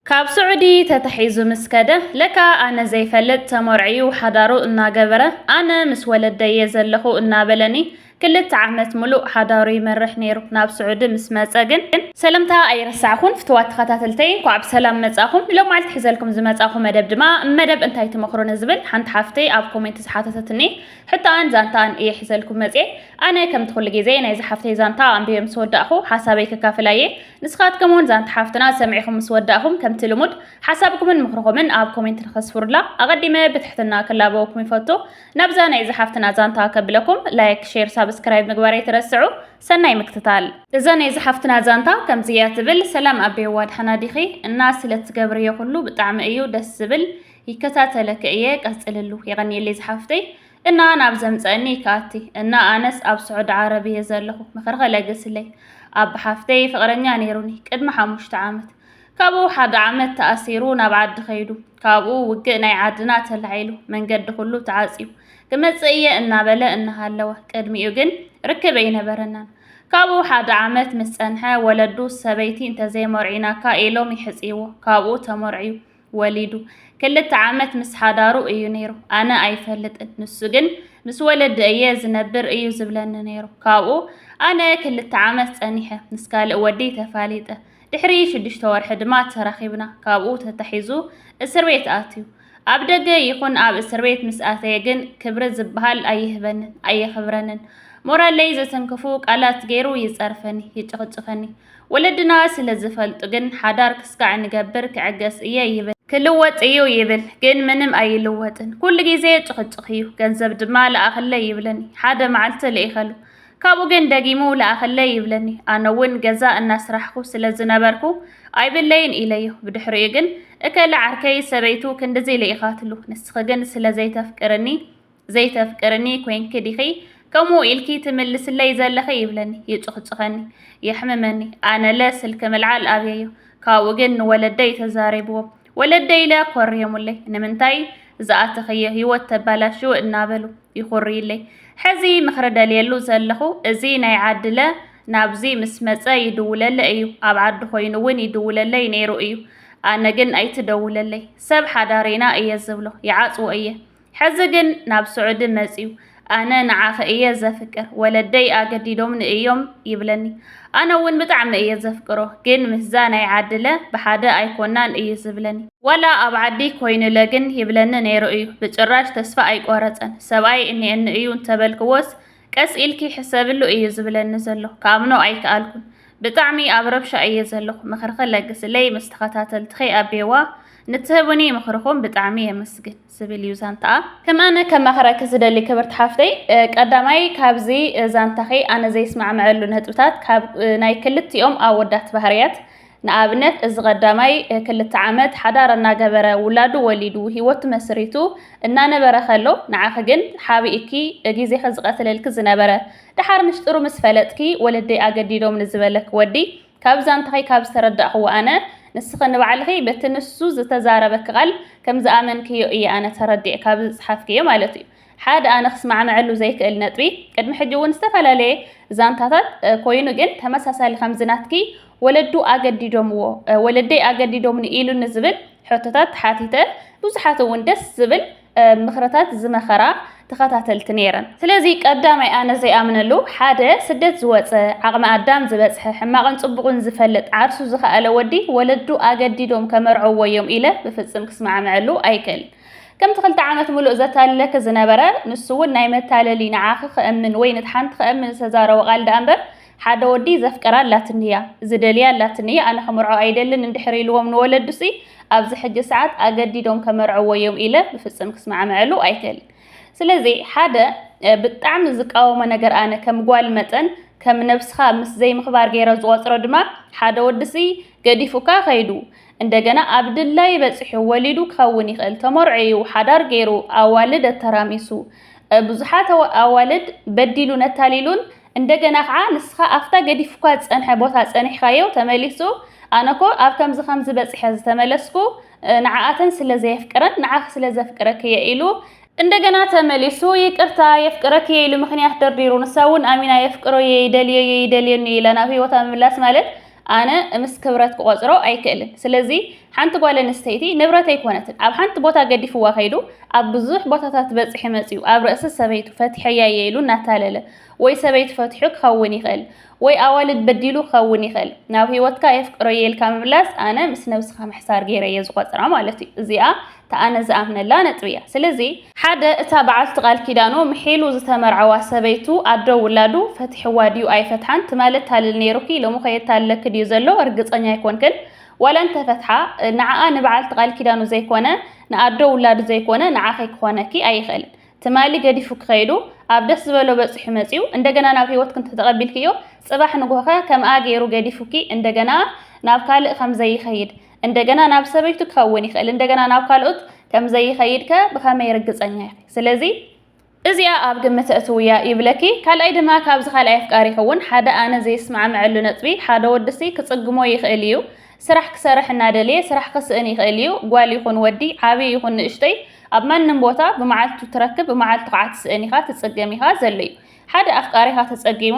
ካብ ስዑዲ ተታሒዙ ምስ ከደ ለካ ኣነ ዘይፈልጥ ተመርዕዩ ሓዳሩ እናገበረ ኣነ ምስ ወለደይ እየ ዘለኹ እናበለኒ ክልተ ዓመት ምሉእ ሓዳሩ ይመርሕ ነይሩ። ናብ ስዑዲ ምስ መጸ ግን ሰለምታ ኣይረሳዕኩን ፍትዋት ተኸታተልተይ እንኳዕ ብሰላም መጻኹም ንሎማዓልቲ ሒዘልኩም ዝመጻኹ መደብ ድማ መደብ እንታይ ትመኽሩ ንዝብል ሓንቲ ሓፍተይ ኣብ ኮሜንት ዝሓተተትኒ ሕቶኣን ዛንታኣን እየ ሒዘልኩም መጽየ ኣነ ከምቲ ኩሉ ግዜ ናይዛ ሓፍተይ ዛንታ ኣንቢበ ምስ ወዳእኹ ሓሳበይ ከካፍላ እየ ንስኻትኩም ውን ዛንታ ሓፍትና ሰሚዕኹም ምስ ወዳእኹም ከምቲ ልሙድ ሓሳብኩምን ምኽርኹምን ኣብ ኮሜንት ንኸስፍሩላ ኣቐዲመ ብትሕትና ክላበወኩም ይፈቱ። ናብዛ ናይ እዛ ሓፍትና ዛንታ ከብለኩም ላይክ፣ ሼር፣ ሳብስክራይብ ምግባር ኣይትረስዑ። ሰናይ ምክትታል። እዛ ናይ እዛ ሓፍትና ዛንታ ከምዚ እያ ትብል። ሰላም ኣቤዋ ድሓና ዲኺ እና ስለ ትገብርዮ ኩሉ ብጣዕሚ እዩ ደስ ዝብል ይከታተለኪ እየ ቀፅልሉ የቀንየለይ ዝሓፍተይ እና ናብ ዘምጸእኒ ኢካ ኣቲ እና ኣነስ ኣብ ሱዑዲ ዓረብ እየ ዘለኩ ምክርኪ ለግስለይ ኣባ ሓፍተይ ፍቅረኛ ነይሩኒ ቅድሚ ሓሙሽተ ዓመት ካብኡ ሓደ ዓመት ተኣሲሩ ናብ ዓዲ ከይዱ ካብኡ ውግእ ናይ ዓድና ተላዒሉ መንገዲ ኩሉ ተዓጽዩ ክመጽእ እየ እናበለ እናሃለወ ቅድሚኡ ግን ርክብ ኣይነበረናን ካብኡ ሓደ ዓመት ምስ ጸንሐ ወለዱ ሰበይቲ እንተዘይመርዒናካ ኢሎም ይሕጽይዎ ካብኡ ተመርዕዩ ወሊዱ ክልተ ዓመት ምስ ሓዳሩ እዩ ነይሩ። ኣነ ኣይፈልጥን፣ ንሱ ግን ምስ ወለዲ እየ ዝነብር እዩ ዝብለኒ ነይሩ። ካብኡ ኣነ ክልተ ዓመት ጸኒሐ ምስ ካልእ ወዲ ተፋሊጠ። ድሕሪ ሽዱሽተ ወርሒ ድማ ተራኺብና። ካብኡ ተታሒዙ እስር ቤት ኣትዩ። ኣብ ደገ ይኹን ኣብ እስር ቤት ምስ ኣተየ ግን ክብሪ ዝበሃል ኣይህበንን፣ ኣየኽብረንን። ሞራለይ ዘተንክፉ ቃላት ገይሩ ይጸርፈኒ፣ ይጭቕጭኸኒ። ወለድና ስለ ዝፈልጡ ግን ሓዳር ክስካዕ ንገብር ክዕገስ እየ ይብል። ክልወጥ እዩ ይብል ግን ምንም ኣይልወጥን። ኩሉ ግዜ ጭኽጭኽ እዩ። ገንዘብ ድማ ለኣኽለይ ይብለኒ። ሓደ መዓልቲ ልኢኸሉ። ካብኡ ግን ደጊሙ ለኣኽለይ ይብለኒ። ኣነ እውን ገዛ እናስራሕኹ ስለ ዝነበርኩ ኣይብለይን ኢለዮ። ብድሕሪኡ ግን እከለ ዓርከይ ሰበይቱ ክንድዚ ልኢኻትሉ ንስኺ ግን ስለ ዘይተፍቅርኒ ዘይተፍቅርኒ ኮይንኪ ዲኺ ከምኡ ኢልኪ ትምልስለይ ዘለኺ ይብለኒ፣ ይጹኽጹኸኒ፣ የሕምመኒ። ኣነለ ስልኪ ምልዓል ኣብየዮ፣ ካብኡ ግን ንወለደይ ተዛሪብዎም። ወለደይለ ኮርዮሙለይ፣ ንምንታይ ዝኣተኽዮ ህይወት ተባላሽው እናበሉ ይኹርዩለይ። ሕዚ ምኽሪ ደልየሉ ዘለኹ እዚ ናይ ዓድለ ናብዚ ምስ መጸ ይድውለለ እዩ፣ ኣብ ዓዱ ኮይኑ እውን ይድውለለይ ነይሩ እዩ። ኣነ ግን ኣይትደውለለይ፣ ሰብ ሓዳር ኢና እየ ዝብሎ፣ ይዓጽዎ እየ። ሕዚ ግን ናብ ስዑዲ መጺኡ ኣነ ንዓኺ እየ ዘፍቅር ወለደይ ኣገዲዶምኒ እዮም ይብለኒ። ኣነ እውን ብጣዕሚ እየ ዘፍቅሮ ግን ምስዛ ናይ ዓድለ ብሓደ ኣይኮናን እዩ ዝብለኒ። ዋላ ኣብ ዓዲ ኮይኑለ ግን ይብለኒ ነይሩ እዩ ብጭራሽ ተስፋ ኣይቆረጸን። ሰብኣይ እኒኤኒ እዩ እንተበልክዎስ ቀስ ኢልኪ ሕሰብሉ እዩ ዝብለኒ ዘሎ ክኣምኖ ኣይክኣልኩን። ብጣዕሚ ኣብ ረብሻ እየ ዘለኹ ምኽርኺ ለግስለይ ምስ ተኸታተልትኺ ኣቤዋ ንትህቡኒ ምኽርኹም ብጣዕሚ የመስግን። ዝብል እዩ ዛንታኣ። ከም ኣነ ከማኽረኪ ዝደሊ ክብርቲ ሓፍተይ፣ ቀዳማይ ካብዚ ዛንታኺ ኣነ ዘይስማዕመዐሉ ነጥብታት ካብ ናይ ክልቲኦም ኣወዳት ባህርያት ንኣብነት እዚ ቀዳማይ ክልተ ዓመት ሓዳር እናገበረ ውላዱ ወሊዱ ሂወቱ መስሪቱ እናነበረ ከሎ ንዓኺ ግን ሓቢእኪ ግዜኺ ዝቐትለልኪ ዝነበረ ደሓር ምሽጥሩ ምስ ፈለጥኪ ወለደይ ኣገዲዶምኒ ዝበለኪ ወዲ ካብ ዛንታኺ ካብ ዝተረዳእኽዎ ኣነ፣ ንስኺ ንባዕልኺ በቲ ንሱ ዝተዛረበኪ ቃል ከም ዝኣመንክዮ እየ ኣነ ተረዲኤ ካብዚ ዝጸሓፍክዮ ማለት እዩ። ሓደ ኣነ ክስማዕመዐሉ ዘይክእል ነጥቢ፣ ቅድሚ ሕጂ እውን ዝተፈላለየ ዛንታታት ኮይኑ ግን ተመሳሳሊ ከምዚ ናትኪ ወለዱ ኣገዲዶምዎ፣ ወለደይ ኣገዲዶምኒ ኢሉኒ ዝብል ሕቶታት ሓቲተ ብዙሓት እውን ደስ ዝብል ምኽርታት ዝመኸራ ተኸታተልቲ ነይረን። ስለዚ ቀዳማይ ኣነ ዘይኣምነሉ ሓደ ስደት ዝወጸ ዓቕሚ ኣዳም ዝበጽሐ ሕማቕን ጽቡቕን ዝፈልጥ ዓርሱ ዝኸኣለ ወዲ ወለዱ ኣገዲዶም ከመርዕዎ እዮም ኢለ ብፍጽም ክስማዕመዐሉ ኣይክእልን። ከምቲ ክልተ ዓመት ምሉእ ዘታልለኪ ዝነበረ ንሱ እውን ናይ መታለሊ ንዓኺ ክእምን ወይ ንቲ ሓንቲ ክእምን ዝተዛረቦ ቃል ደኣ እምበር ሓደ ወዲ ዘፍቅራ ኣላትኒ'ያ፣ ዝደልያ ኣላትኒ'ያ፣ ኣነ ክምርዖ ኣይደልን እንድሕር ኢልዎም ንወለዱ'ሲ፣ ኣብ'ዚ ሕጂ ሰዓት ኣገዲዶም ከመርዕዎ'ዮም ኢለ ብፍጽም ክስማዕመዐሉ ኣይክእልን። ስለ'ዚ ሓደ ብጣዕሚ ዝቃወሞ ነገር ኣነ ከም ጓል መጠን ከም ነብስኻ ምስ ዘይምኽባር ገይረ ዝቖጽሮ ድማ ሓደ ወዲ'ሲ ገዲፉካ ከይዱ እንደገና ኣብ ድላዩ በጺሑ ወሊዱ ክኸውን ይኽእል፣ ተመርዕዩ፣ ሓዳር ገይሩ፣ ኣዋልድ ኣተራሚሱ፣ ብዙሓት ኣዋልድ በዲሉን ኣታሊሉን እንደገና ኸዓ ንስኻ ኣፍታ ገዲፉካ ዝጸንሐ ቦታ ጸኒሕካዮ ተመሊሱ ኣነኮ ኣብ ከምዚ ከምዚ በጺሐ ዝተመለስኩ ንዓኣተን ስለ ዘየፍቅረን ንዓኺ ስለ ዘፍቅረኪየ ኢሉ እንደገና ተመሊሱ ይቅርታ የፍቅረኪየ ኢሉ ምኽንያት ደርዲሩ ንሳ ውን ኣሚና የፍቅሮየ ይደልዮየ ይደልየኒዩ ኢላ ናብ ሂወታ ምምላስ ማለት ኣነ እምስ ክብረት ክቆጽሮ ኣይክእልን ስለዚ ሓንቲ ጓል ኣንስተይቲ ንብረት ኣይኮነትን ኣብ ሓንቲ ቦታ ገዲፍዋ ከይዱ ኣብ ብዙሕ ቦታታት በጽሒ መጽዩ ኣብ ርእሲ ሰበይቱ ፈትሐያ እየ ኢሉ እናታለለ ወይ ሰበይቱ ፈትሑ ክኸውን ይኽእል ወይ ኣዋልድ በዲሉ ክኸውን ይኽእል ናብ ህይወትካ የፍቅሮ እየ ኢልካ ምምላስ ኣነ ምስ ነብስኻ ምሕሳር ገይረ እየ ዝቆጽራ ማለት እዩ እዚኣ እቲ ኣነ ዝኣምነላ ነጥቢ እያ ስለዚ። ሓደ እታ በዓልቲ ቃል ኪዳኑ ምሒሉ ዝተመርዓዋ ሰበይቱ ኣዶ ውላዱ ፈቲሕዋ ድዩ ኣይፈትሓን ትማል የታልል ነይሩኪ ሎምኸ የታልለኪ ድዩ ዘሎ ርግጸኛ ኣይኮንክን ዋላ እንተፈትሓ ንዓኣ ንበዓልቲ ቃል ኪዳኑ ዘይኮነ ንኣዶ ውላዱ ዘይኮነ ንዓኺ ክኾነኪ ኣይኽእልን ትማሊ ገዲፉኪ ከይዱ ኣብ ደስ ዝበሎ በጺሑ መጺኡ እንደገና ናብ ህይወትኪ እንተተቐቢልክዮ ጽባሕ ንግሆኸ ከምኣ ገይሩ ገዲፉኪ እንደገና ናብ ካልእ ከምዘይኸይድ እንደገና ናብ ሰበይቱ ክኸውን ይኽእል፣ እንደገና ናብ ካልኦት ከም ዘይኸይድ ከ ብኸመይ ርግጸኛ ኢኺ? ስለዚ። እዚኣ ኣብ ግምት ኣእትውያ ይብለኪ። ካልኣይ ድማ ካብዚ ካልኣይ ኣፍቃሪኺ እውን ሓደ ኣነ ዘይስማዕምዐሉ ነጥቢ፣ ሓደ ወዲሲ ክጽግሞ ይኽእል እዩ፣ ስራሕ ክሰርሕ እናደለየ ስራሕ ክስእን ይኽእል እዩ፣ ጓል ይኹን ወዲ፣ ዓብዪ ይኹን ንእሽተይ፣ ኣብ ማንም ቦታ ብመዓልቱ ትረክብ ብመዓልቱ ከዓ ትስእን ኢኻ፣ ትጽገም ኢኻ፣ ዘሎ እዩ። ሓደ ኣፍቃሪኻ ተጸጊሙ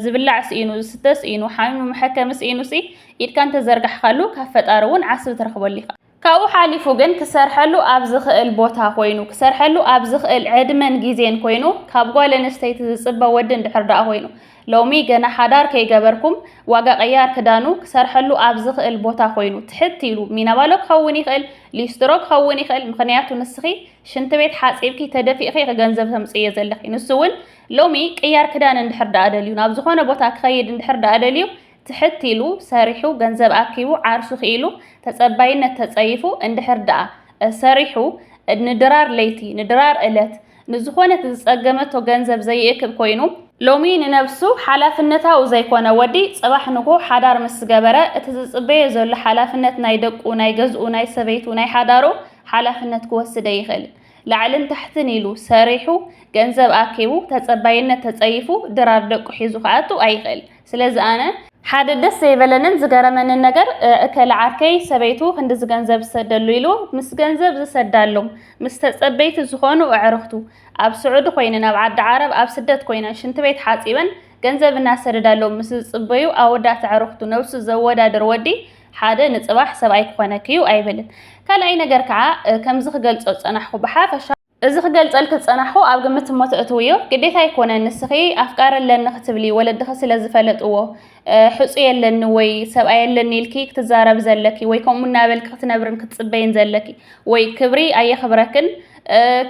ዝብላዕ ስኢኑ ዝስተ ስኢኑ ሓሚሙ መሐከሚ ስኢኑ ሲ ኢድካ እንተዘርጋሕካሉ ካብ ፈጣሪ እውን ዓስቢ ትረኽበሉ ኢኻ። ካብኡ ሓሊፉ ግን ክሰርሐሉ ኣብ ዝኽእል ቦታ ኮይኑ ክሰርሐሉ ኣብ ዝኽእል ዕድመን ግዜን ኮይኑ ካብ ጓል ኣንስተይቲ ዝጽበ ወዲ እንድሕር ደኣ ኮይኑ ሎሚ ገና ሓዳር ከይገበርኩም ዋጋ ቀያር ክዳኑ ክሰርሐሉ ኣብ ዝኽእል ቦታ ኮይኑ ትሕት ኢሉ ሚናባሎ ክኸውን ይኽእል ሊስትሮ ክኸውን ይኽእል ምኽንያቱ ንስኺ ሽንቲ ቤት ሓጺብኪ ተደፊእኺ ኢኺ ገንዘብ ተምጽእዮ ዘለኺ። ንሱ እውን ሎሚ ቅያር ክዳን እንድሕር ደኣ ደልዩ፣ ናብ ዝኾነ ቦታ ክኸይድ እንድሕር ደኣ ደልዩ፣ ትሕት ኢሉ ሰሪሑ ገንዘብ ኣኪቡ ዓርሱ ክኢሉ ተጸባይነት ተጸይፉ እንድሕር ደኣ ሰሪሑ ንድራር ለይቲ ንድራር እለት ንዝኾነት ዝጸገመቶ ገንዘብ ዘይእክብ ኮይኑ ሎሚ ንነብሱ ሓላፍነታዊ ዘይኮነ ወዲ ጽባሕ ንግሆ ሓዳር ምስ ዝገበረ እቲ ዝጽበዮ ዘሎ ሓላፍነት ናይ ደቁ ናይ ገዝኡ ናይ ሰበይቱ ናይ ሓዳሩ ሓላፍነት ክወስደ ይኽእል። ላዕልን ታሕትን ኢሉ ሰሪሑ ገንዘብ ኣኪቡ ተጸባይነት ተጸይፉ ድራር ደቁ ሒዙ ክኣቱ ኣይኽእል። ስለዚ ኣነ። ሓደ ደስ ዘይበለንን ዝገረመንን ነገር እከለ ዓርከይ ሰበይቱ ክንድዚ ገንዘብ ዝሰደሉ ኢሉ ምስ ገንዘብ ዝሰዳሎም ምስ ተጸበይቲ ዝኾኑ ኣዕርኽቱ ኣብ ስዑዲ ኮይነን ኣብ ዓዲ ዓረብ ኣብ ስደት ኮይነን ሽንቲ ቤት ሓጺበን ገንዘብ እናሰደዳሎም ምስ ዝጽበዩ ኣወዳት ኣዕርኽቱ ነብሱ ዘወዳድር ወዲ ሓደ ንጽባሕ ሰብኣይ ክኾነኪ'ዩ ኣይብልን። ካልኣይ ነገር ከኣ ከምዚ ክገልጾ ዝጸናሕኩ ብሓፈሻ። እዚ ክገልጸልኪ ዝጸናሕኩ ኣብ ግምት እሞ ተእትውዮ ግዴታ ኣይኮነን ንስኺ ኣፍቃሪ ኣለኒ ክትብሊ ወለድኺ ስለ ዝፈለጥዎ ሕጹይ ኣለኒ ወይ ሰብኣይ ኣለኒ ኢልኪ ክትዛረቢ ዘለኪ ወይ ከምኡ እናበልኪ ክትነብርን ክትጽበይን ዘለኪ ወይ ክብሪ ኣየኽብረክን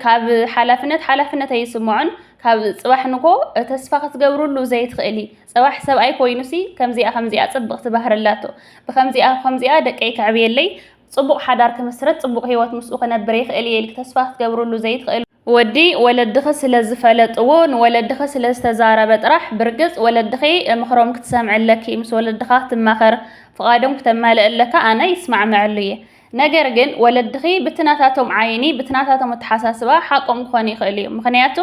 ካብ ሓላፍነት ሓላፍነት ኣይስምዖን ካብ ጽባሕ ንጎ ተስፋ ክትገብርሉ ዘይትኽእሊ ጸባሕ ሰብኣይ ኮይኑሲ ከምዚኣ ከምዚኣ ጽብቅቲ ባህሪ ኣላቶ ብከምዚኣ ከምዚኣ ደቀይ ከዕብየለይ ጽቡቅ ሓዳር ክምስርት ጽቡቅ ሂወት ምስኡ ክነብር ይክእል ኢየ ኢልኪ ተስፋ ክትገብርሉ ዘይትክእሊ ወዲ ወለድኺ ስለ ዝፈለጥዎ ንወለድኺ ስለ ዝተዛረበ ጥራሕ ብርግጽ ወለድኺ ምኽሮም ክትሰምዒ ኣለኪ ምስ ወለድኻ ክትማኸር ፍቃዶም ክተማልእ ኣለካ ኣነ ይስማዕመዐሉ ኢየ ነገር ግን ወለድኺ ብቲ ናታቶም ዓይኒ ብቲ ናታቶም ኣተሓሳስባ ሓቆም ክኾኑ ይኽእሉ እዮም ምኽንያቱ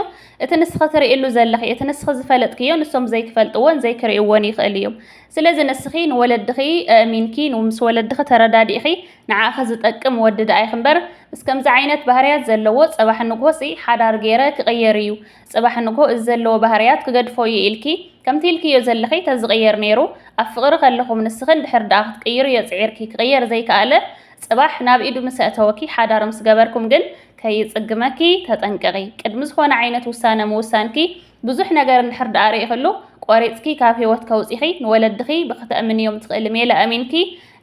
እቲ ንስኺ ትርእሉ ዘለኺ እቲ ንስኺ ዝፈለጥክዮ ንሶም ዘይክፈልጥዎን ዘይክርእዎን ይኽእሉ እዮም ስለዚ ንስኺ ንወለድኺ ኣእሚንኪ ምስ ወለድኺ ተረዳዲእኺ ንዓኺ ዝጠቅም ወዲ ደኣ ይኽንበር ምስ ከምዚ ዓይነት ባህርያት ዘለዎ ጸባሕ ንግሆ ሲ ሓዳር ጌረ ክቕየር እዩ ጽባሕ ንግሆ እዚ ዘለዎ ባህርያት ክገድፎ እዩ ኢልኪ ከምቲ ኢልክዮ ዘለኺ ተዝቕየር ኔሩ ኣብ ፍቕሪ ከለኹም ንስኺ እንድሕር ድኣ ክትቅይርዮ ጽዒርኪ ክቕየር ዘይከኣለ ጽባሕ ናብ ኢዱ ምስ ኣእተወኪ ሓዳር ምስ ገበርኩም ግን ከይጽግመኪ ተጠንቀቒ ቅድሚ ዝኾነ ዓይነት ውሳነ ምውሳንኪ ብዙሕ ነገር እንድሕር ድኣ ሪኢኽሉ ቆሪጽኪ ካብ ሂወት ከውጺኺ ንወለድኺ ብክተእምንዮም ትኽእሊ ሜላ ኣሚንኪ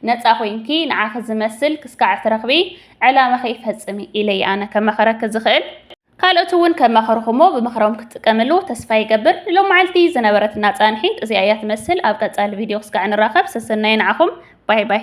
ነጻ ኮይንኪ ንዓኺ ዝመስል ክስካዕ ትረኽቢ ዕላማኺ ፈጽሚ ኢለየ ኣነ ከማኽረኪ ዝኽእል። ካልኦት እውን ከማኸርኹሞ ብምኽሮም ክትጥቀምሉ ተስፋ ይገብር። ንሎማዓልቲ ዝነበረትና ፃንሒት እዚኣ እያ ትመስል። ኣብ ቀፃሊ ቪድዮ ክስጋዕ ንራኸብ። ሰሰናዩ ንዓኹም። ባይ ባይ።